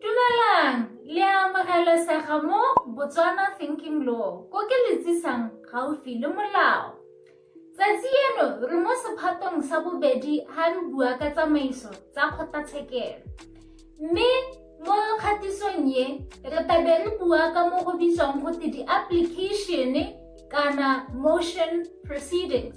Dumelang, le a amogelesega mo Botswana Thinking Law, ko ke le tsisang gaufi le molao. Tsatsi eno re mo sephatong sa bobedi ha re bua ka tsamaiso tsa kgotlatshekelo. Mme mo kgatisong ye re tabe re bua ka mo go bitswang gote di-application kana motion proceedings.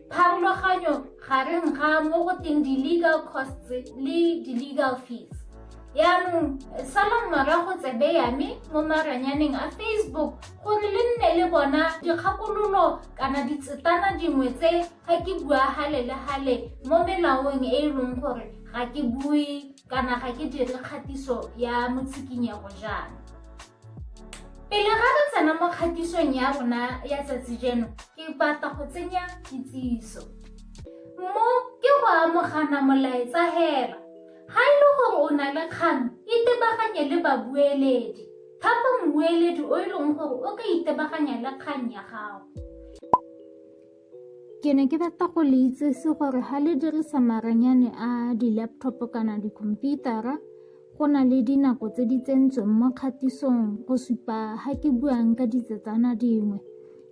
Pharologanyo gareng ga mo go teng di-legal costs le di-legal fees yaanong salang morago tsebe ya me mo maranyaneng a facebook gore le nne le bona dikgakololo kana ditsetana dingwe tse ga ke bua gale le gale mo melaong e e leng gore ga ke bue kana ga ke dire kgatiso ya motshikinyego jaana Pele ga re tsena mo kgatisong ya rona ya tsatsi jeno, ke batla go tsenya kitsiso. Mo ke go amogana molaetsa hela. Ga e le gore o na le kgang, itebaganye le babueledi. Thapa mmueledi o e leng gore o ka itebaganya le kgang ya gago. ke ne ke batla go le itsese gore ga le dirisa maranyane a di-laptop kana dikhomputara go na le dinako tse di tsentsweng mo kgatisong go supa ga ke buang ka ditsetsana dingwe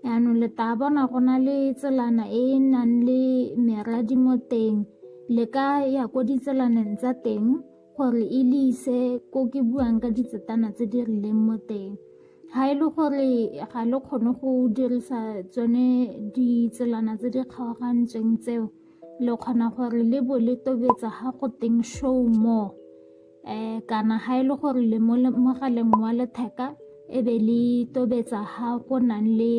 yaanong le tla bona go na le tselana e e nang le meradi mo teng le ka ya ko ditselaneng tsa teng gore e le ise ko ke buang ka ditsetana tse di rileng mo teng ga e le gore ga le kgone go dirisa tsone ditselana tse di kgaogantsweng tseo le kgona gore le bo le tobetsa ga go teng show more um kana ga e le gore le mo mogaleng wa letheka e be le tobetsa ga go nang le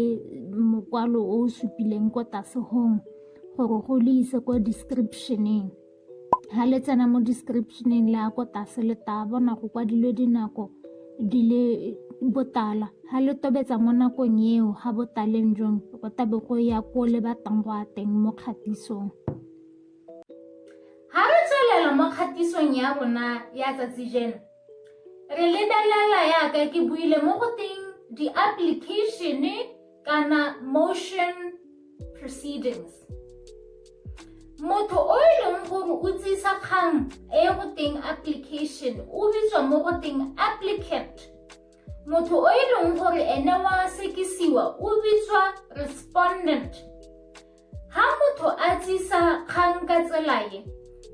mokwalo o o supileng ko tlase gore go le ise kwa descriptioneng ha le tsena mo descriptioneng le ya ko tlase le tla bona go kwadilwe dinako di le botala ha le tobetsa mo nakong eo ha botaleng jong go tabe go ya ko le batlang go a teng mo kgatisong ha re tswelela mo kgatisong ya rona ya tsatsi jeno re lebelela yaka ke buile mo go teng di-application-e kana motion proceedings motho o e leng gore o tsisa kgang e go teng application o bitswa mo go teng applicant motho o e leng gore ene wa sekisiwa o bitswa respondent Ha motho a tsisa kgang ka tsela e,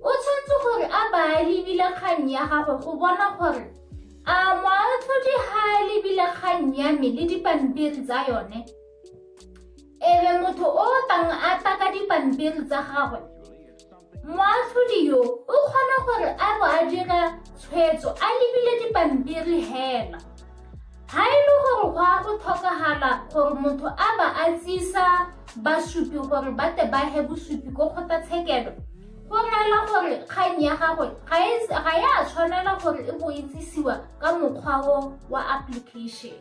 o tshwanetse gore a ba a lebile kgang ya gagwe go bona gore a moatlhodi ha a lebile kgang ya me le dipampiri tsa yone ebe motho o tang a tla ka dipampiri tsa gagwe Moatlhodi yo o kgona gore a bo a dira tshwetso a lebile dipampiri hela. Ha e le gore go a go tlhokagala gore motho a ba a tsisa basupi gore ba te ba he bosupi ko kgotlatshekelo, go reela gore kgang ya gagwe ga e ga ya tshwanela gore e bo e tsisiwa ka mokgwa o wa application.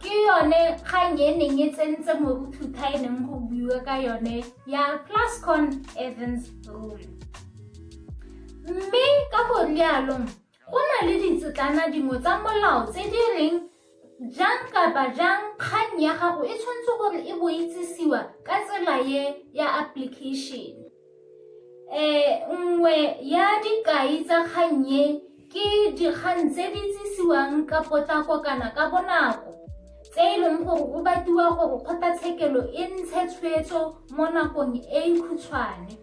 ke yone kgang e neng e tsentse moruthutha e neng go buiwa ka yone ya plascon evans rule mme ka go rialong go na le ditsetlana dingwe tsa molao tse di reng jang kapa jang kgang ya gago e tshwanetse gore e boitsisiwa ka tsela ye ya application E, nngwe ya dikai tsa kgang e ke dikgang tse di tsisiwang ka potlako kana ka bonako tse e leng gore o batiwa gore kgotlatshekelo e ntshe tshwetso mo nakong e e khutshwane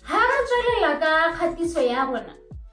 ha re tswelela ka kgatiso ya rona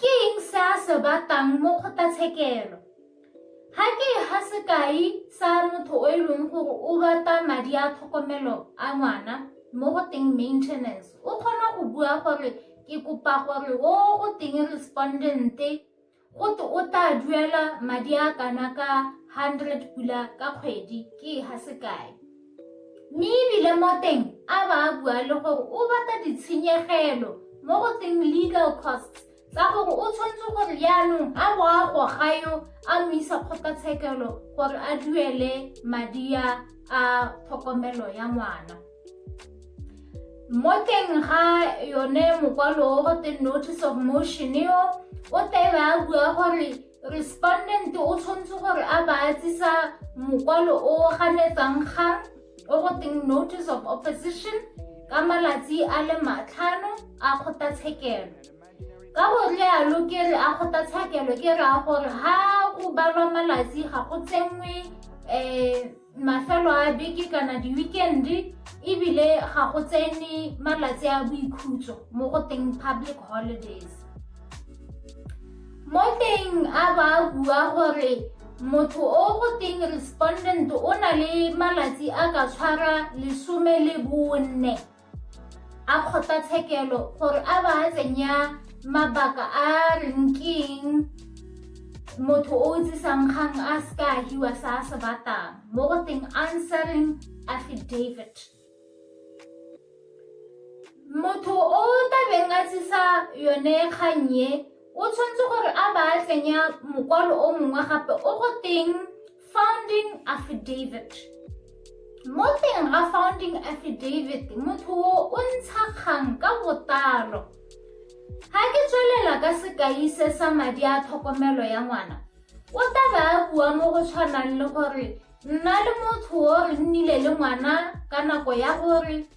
Ke eng se a se batlang mo kgotlatshekelo? Ga ke ga sekai sa motho o e leng gore o bata madi a tlhokomelo a ngwana mo go teng maintenance o kgona go bua gore ke kopa gore o go teng respondente go te o tla duela madi a kana ka hundred pula ka kgwedi ke ga sekai Mme ebile mo teng a ba a bua le gore o batla ditshenyegelo mo go teng legal costs tsa gore o tshwanetse gore jaanong a bo a goga yo a mo isa kgotlatshekelo gore a duele madi a a tlhokomelo ya ngwana mo teng ga yone mokwalo o go teng notice of motion eo o tebe a bua gore respondent o tshwanetse gore a baatsisa mokwalo o ganetsang kgang o go teng notice of opposition ka malatsi a le matlhano a kgotlatshekelo ka go rialo ke re a kgotlatshekelo ke raya gore ha go balwa malatsi ga go tsenngwe um mafelo a beke kana di-weekend-e ebile ga go tsene malatsi a boikhutso mo go teng public holidays mo teng a ba bua gore motho o go teng respondent o na le malatsi a ka tshwara lesome le bone a kgotlatshekelo gore a ba a tsenya mabaka a reng keng motho o tsisang kgang a se ka hiwa sa a se batang mo go teng answering affidavit motho o tabeng a tsisa yone kgang ye o tshwanetse gore a ba a tsenya mokwalo o mongwe gape o go teng founding affidavit mo teng ga founding affidavit motho o o ntsha kgang ka botalo ga ke tswelela ka sekai se sa madi a tlhokomelo ya ngwana o tla ba a bua mo go tshwanang le gore nna le motho o re nnile le ngwana ka nako ya gore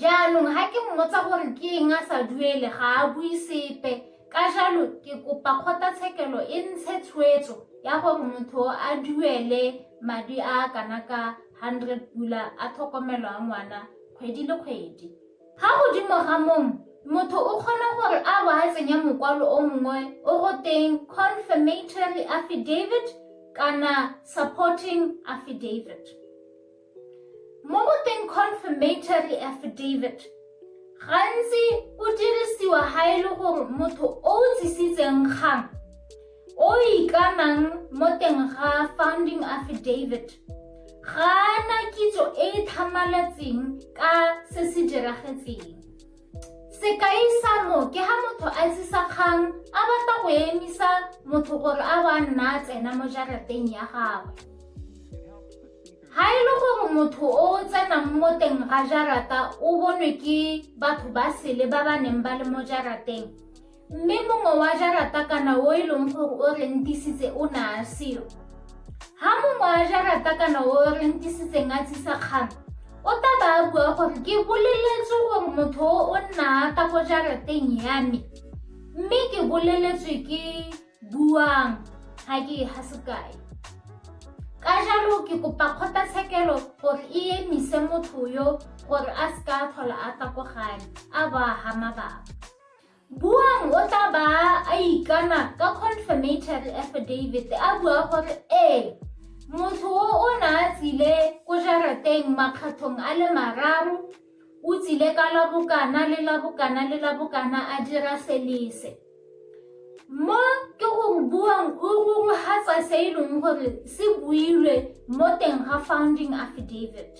jaanong ga ke mmotsa gore ke eng a sa duele ga a bue sepe ka jalo ke kopa kgotlatshekelo e ntshe tshwetso ya gore motho a duele madi a a kana ka 100 pula a tlhokomelo a ngwana kgwedi le kgwedi ga godimo ga mong motho o kgona gore a bo a tsenya mokwalo o mongwe o go teng confirmatory affidavit kana supporting affidavit Mo go teng confirmatory affidavit, gantsi o dirisiwa ga e le gore motho o o tsisitseng kgang o ikanang mo teng ga founding affidavit ga na kitso e e tlhamaletseng ka se se diragetseng. Sekai sa mo ke ha motho a tsisa kgang a batla go emisa motho gore a bo a nna a tsena mo jarateng ya gagwe. Ga e le gore motho o o tsenang mo teng ga jarata o bonwe ke batho ba sele ba ba neng ba le mo jarateng, Mme mongwe wa jarata kana o e leng gore o rentisitse o ne a seo. Ha mongwe wa jarata kana o rentisitseng a tsisa kgang, o tla ba a bua gore ke boleletswe gore motho o nna ata ko jarateng ya me. Mme ke boleletswe ke buang ga ke e ga sekai. Ka jalo ke kopa kgotlatshekelo gore e emise motho yo gore a seka a tlhola a takogane a ba ga mabaka. Buang o tla ba a ikana ka confirmatory affidavit a bua gore ee motho o o ne a tsile ko jarateng makgathong a le mararo o tsile ka la bokana le la bokana le la bokana a dira selese mo ke go buang o rurugatsa se e leng gore se builwe mo teng ga founding affidavit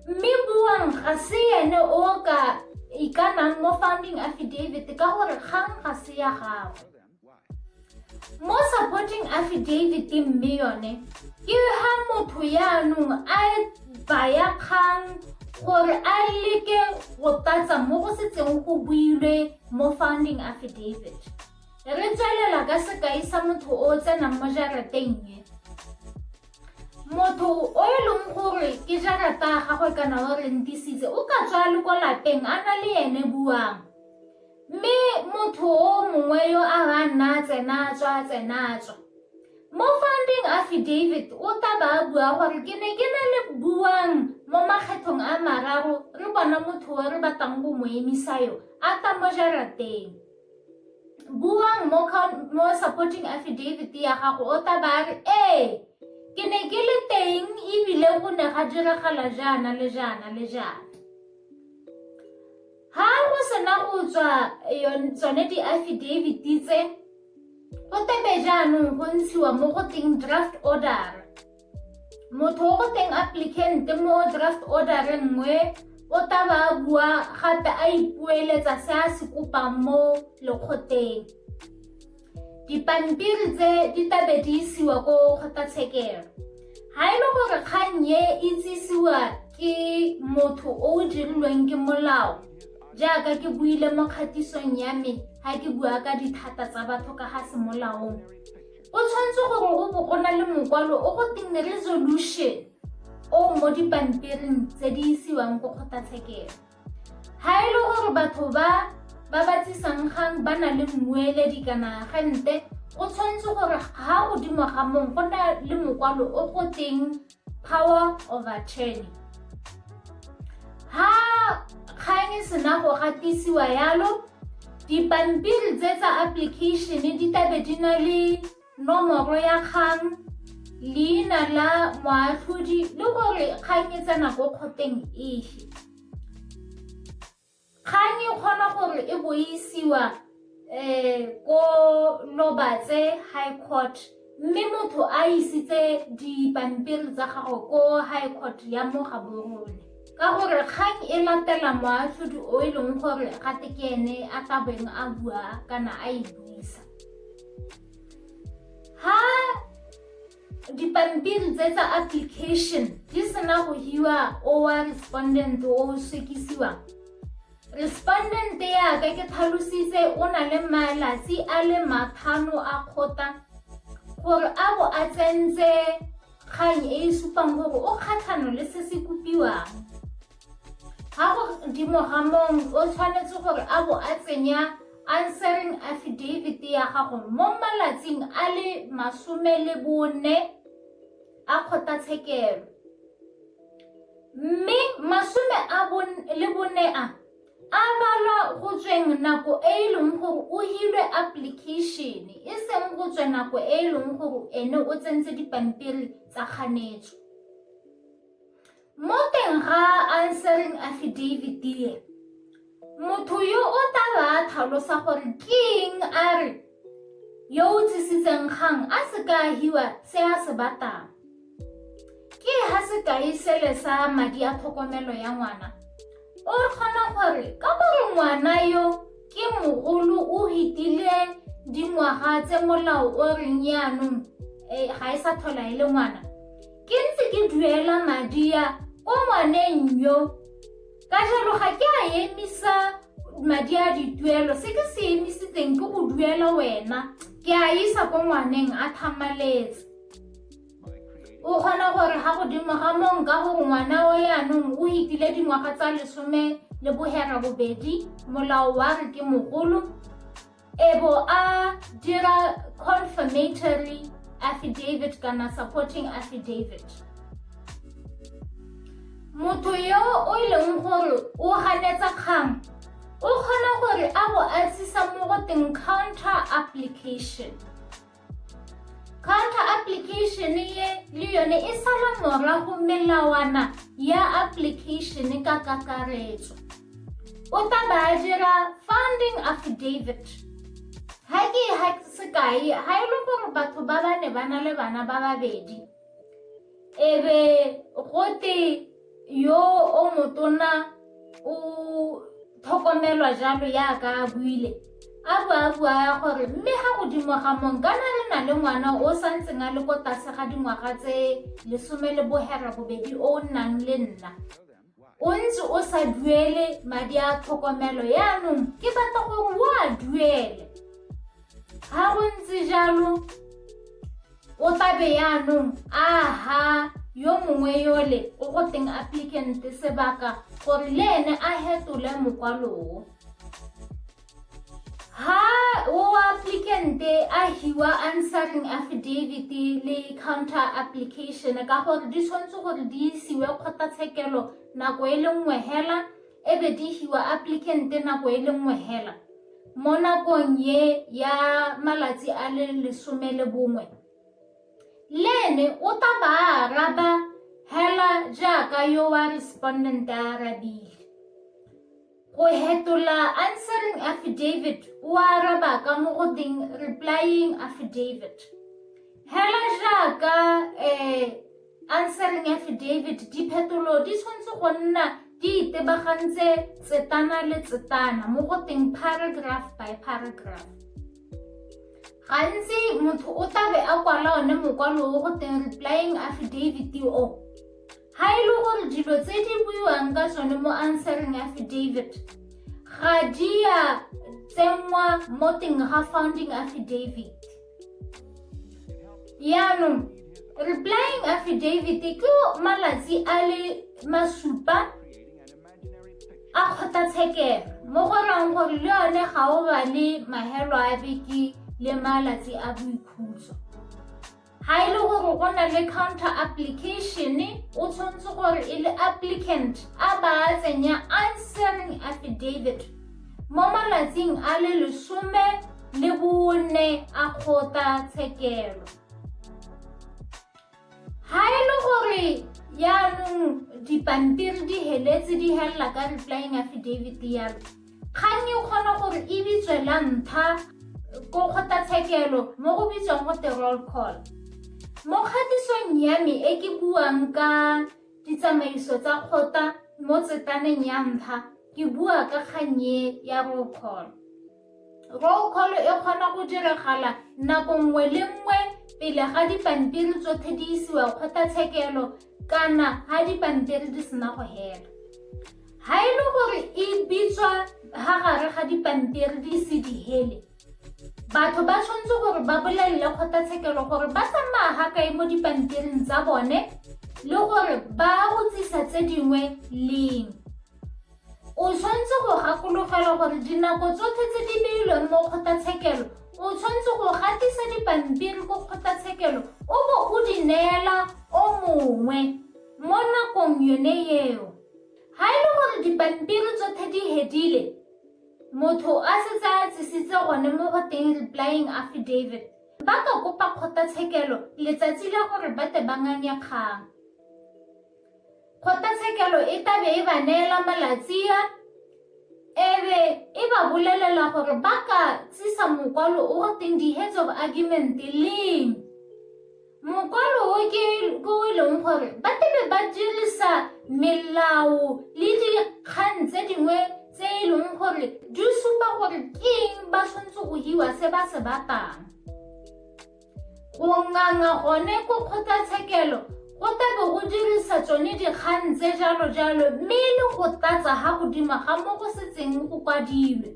mme buang ga se ene o ka ikanang mo funding affidavit ka gore kgang ga se ya gagwe mo supporting affidavit mme yone ke ha motho yaanong a e baya kgang gore a e leke go tatsa mo go setseng go builwe mo funding affidavit re tswelela ka sekai sa motho o tsenang mo jarateng e motho o e leng gore ke jarata gagwe kana o rentisitse o ka tswa le ko lapeng a na le ene buang mme motho o mongwe yo a ba nna tsena tswa tsena tswa mo founding affidavit o tla ba bua gore ke ne ke na le buang mo makgethong a mararo re bona motho o re batlang go mo emisa yo a tla mo jarateng buang mo, mo supporting affidavit ya gago o tla ba re ee ke ne ke le teng ebile go ne ga diragala jaana le jaana le jaana ha go sena go tswa tsone di-affidavit tse go tebe jaanong go ntshiwa mo go teng draft order motho o go teng applicant mo draft order re nngwe o taba a bua gape a ipueletsa se a se kopang mo lekgoteng dipampiri tse di tabe di isiwa ko kgotlatshekelo ga e le gore kgang e itsisiwa ke motho o o dirilweng ke molao jaaka ke buile mo kgatisong ya me ga ke bua ka dithata tsa batho ka ga semolaong O tshwanetse gore o bo o na le mokwalo o go teng resolution o mo dipampiring tse di isiwang ko kgotlatshekelo ga e le gore batho ba ba batsisang gang ba na le mmueledi kana agente o tshwanetse gore ga godimo ga mong go na le mokwalo o go teng power of attorney ha kgang e sena go gatisiwa yalo dipampiri tse tsa application di tabe di na le nomoro ya kgang leina la moatlhodi le gore kgang e tsena ko kgoteng efe Kgang e kgona gore e bo e isiwa um ko Lobatse High Court mme motho a isitse dipampiri tsa gago ko High Court ya mo Gaborone ka gore kgang e latela moatlhodi o e leng gore ga te ke ene a tla beng a bua kana a e buisa ha dipampiri tse tsa application di sena go hiwa owa respondent o sekisiwa respondent yaka ke tlhalositse o na le malatsi a le mathano a kgota gore a bo a tsentse kgang e e supang gore o kgatlhano le se se kopiwang ga go dimo ga mong o tshwanetse gore a bo a tsenya answering affidavit ya gago mo malatsing a le masome le bone a kgotlatshekelo mme masome a le bone a a balwa go tsweng nako e e leng gore o hilwe application e seng go tswe nako e e leng gore ene o tsentse dipampiri tsa kganetso Mo teng ga answering affidavit e, motho yo o tla ba a tlhalosa gore ke eng a re yo o tsisitseng kgang a se ka ahiwa se a se batang. Ke ha sekai sele sa madi a tlhokomelo ya ngwana o kgona gore ka gore ngwana yo ke mogolo o hitile dingwaga tse molao o reng yaanong eh, ga e sa tlhola e le ngwana Ke ntse ke duela madi a ko ngwaneng yo ka jalo ga ke a emisa madi a dituelo se ke se emisitseng ke go duela wena ke a isa ko ngwaneng a thamaletse o kgona gore ga godimo ga mong ka gore ngwana o yanong o itile dingwaga tsa lesome le bohera bobedi molao wa re ke mogolo Ebo a dira confirmatory affidavit kana supporting affidavit. Motho yo o e leng gore o ganetsa kgang o kgona gore a bo a tsisa mo go teng counter application. Kgotla application ye le yone e sala morago melawana ya application ka kakaretso. O tla ba dira funding affidavit. Ha ke ha sekai ha e le gore batho ba ba ne ba na le bana ba babedi. e be gote yo o motona o tlhokomelwa jalo yaka a buile a bo a bua gore mme ga godimo ga mong kana re na le ngwana o sa ntseng a le ko tlase ga dingwaga tse lesome le bohera bobedi o nnang le nna o ntse o sa duele madi a tlhokomelo yaanong ke batla gore o a duele ga go ntse jalo o tlabe yaanong aha yo mongwe yole o go teng applicant sebaka gore le ene a hetole mokwaloo Ha moapplicant-e a hiwa answering affidavit le counter application ka gore di tshwanetse gore di isiwe kgotlatshekelo nako e le nngwe hela e be di hiwa applicant nako e le nngwe hela mo nakong ye ya malatsi a le lesome le bongwe le ene o ta ba araba hela jaaka yo wa respondent a arabile Go hetola answering affidavit o araba ka mo go teng replying affidavit. Hela jaaka eh, answering affidavit diphetolo di tshwanetse go nna di itebagantse tsetana le tsetana mo go teng paragraph by paragraph gantsi motho o tlabe a kwala one mokwalo o go teng replying affidavit o Ga e le gore dilo tse di buiwang ka tsone mo answering affidavit ga di a tsenngwa mo teng ga founding affidavit yaanong replying affidavit ke malatsi a le masupa a kgotlatshekelo mo go rang gore le yone ga o ba le mahelo a beke le malatsi a boikhutso Ga e le gore go na le counter application, o tshwanetse gore e le applicant a ba a tsenya answering affidavit mo malatsing a le lesome le bone a kgota tshekelo. Ga e le gore yaanong dipampiri di heletse di helela ka replying affidavit ya Kganni o kgona gore e bitswe la mpha ko kgotlatshekelo mo go bitswang go te roll call. Mo kgatisong ya me e ke buang ka ditsamaiso tsa kgota mo tsetaneng ya mpha, ke bua ka kgannye ya roll call. Roll call e kgona go diragala nako nngwe le nngwe pele ga dipampiri tsotlhe di isiwa kgotlatshekelo kana ha dipampiri di sena go hela ha e le gore e bitswa ha gare ga dipampiri di se di hele batho ba tshwanetse gore ba bolelele kgotlatshekelo gore ba tsamaya ga kae mo dipampiring tsa bone le gore ba utsisa tse dingwe leng O tshwanetse go gakologelwa gore dinako tsotlhe tse di beilweng mo kgotlatshekelo o tshwanetse go gatisa dipampiri ko kgotlatshekelo o bo o di neela o mongwe mo nakong yone eo ga e le gore dipampiri tsotlhe di hedile motho a setse a tsisitse gone mo go teng replying affidavit ba ka kopa kgotlatshekelo letsatsi la gore ba te ba nganye kgang Kgotlatshekelo e tla be e ba neela malatsia e be e ba bolelela gore ba ka tsisa mokwalo o go teng di-heads of argument leng mokwalo o ke ko e leng gore ba tebe ba dirisa melao le dikgang tse dingwe tse e leng gore di supa gore ke eng ba tshwanetse go hiwa se ba se batang Go nganga gone ko kgotlatshekelo go tlabe go dirisa tsone dikgang tse jalo jalo mme e le go tlatsa ga godima ga mo go setseng go kwadilwe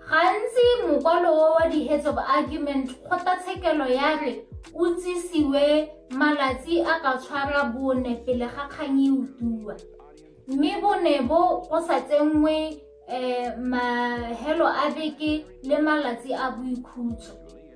gantsi mokwalo o wa di-heads of argument kgotlatshekelo ya re o tsisiwe malatsi a ka tshwara bone pele ga kgang e utuwa mme bone bo go sa tsenngwe um mahelo a beke le malatsi a boikhutso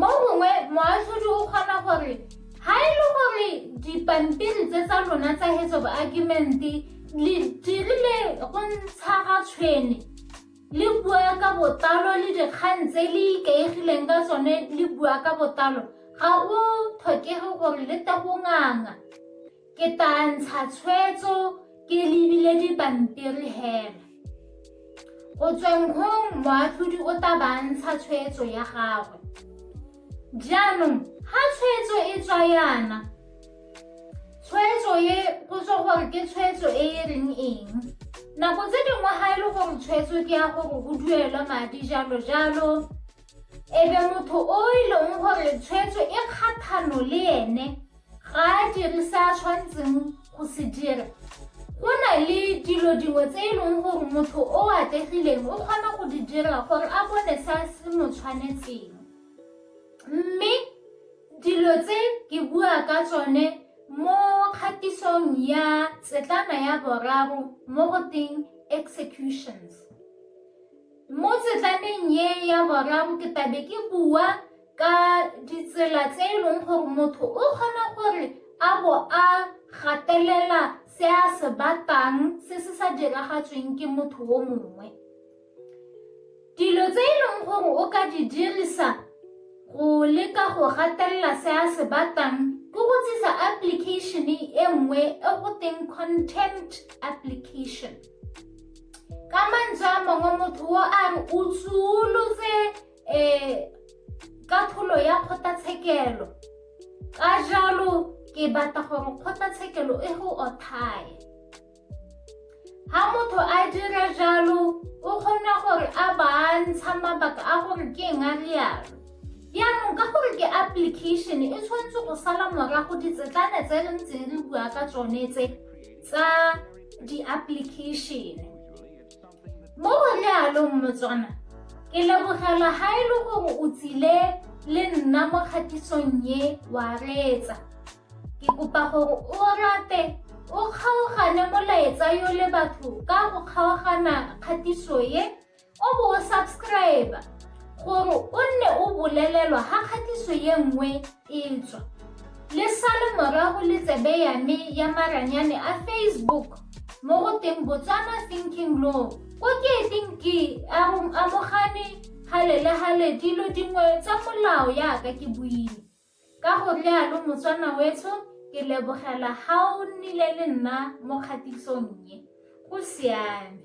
Mo gongwe moatlhodi o kgona gore ha e le gore dipampiri tse tsa lona tsa hetso baakimente le dirile go ntsha ga tshwene le bua ka botlalo le dikgang tse le ikaegileng ka tsone le bua ka botlalo ga go tlhokege gore le tagonganga Ke tla ntsha tshwetso ke lebile dipampiri hela. Go tsweng gong moatlhodi o tla ba ntsha tshwetso ya gagwe. Jaanong ga tshwetso e tswa yana, tshwetso e go tswa gore ke tshwetso e e reng eng. Nako tse dingwe ga e le gore tshwetso ke ya gore go duelwa madi jalo jalo, ebe motho o e leng gore tshwetso e kgathano le ene Ga a dire se a tshwanetseng go se dira. Go na le dilo dingwe tse e leng gore motho o atlegileng o kgona go di dira gore a bone se a se mo tshwanetseng. Mme dilo tse ke bua ka tsone mo kgatisong ya tsetlana ya boraro mo go teng executions. Mo tsetlaneng ye ya boraro ke tabe ke bua ka ditsela tse e leng gore motho o kgona gore a bo a gatelela se a se batang se se sa diragatsweng ke motho o mongwe dilo tse e leng gore o ka di dirisa go leka go gatelela se a se batang ke go tsisa application e nngwe e go teng contempt application ka mantswe a mangwe motho o a re o tsulotse um katlholo ya kgotlatshekelo ka jalo ke batla gore kgotlatshekelo e go othaye ha motho a dira jalo o kgona gore a bantsha mabaka a gore ke eng a rialo jaanong ka gore ke application e tshwanetse go sala morago ditsetlane tse re ntseng re bua ka tsone tse tsa di-application Mo go lealong Motswana, ke lebogela ha e le gore o tsile le nna mo kgatisong ye wa reetsa. Ke kopa gore o rate o kgaogane molaetsa yo le batho ka go kgaogana kgatiso ye o bo o subscribe gore o nne o bolelelwa ga kgatiso ye nngwe Etswa le sale morago le tsebe ya me ya maranyane a Facebook mo go teng Botswana Thinking Law ko ke eteng ke amogane gale le gale dilo dingwe tsa molao yaka ke buile ka go rialo motswana wetsho ke lebogela ga o nnile le nna mo kgatisong ye go siame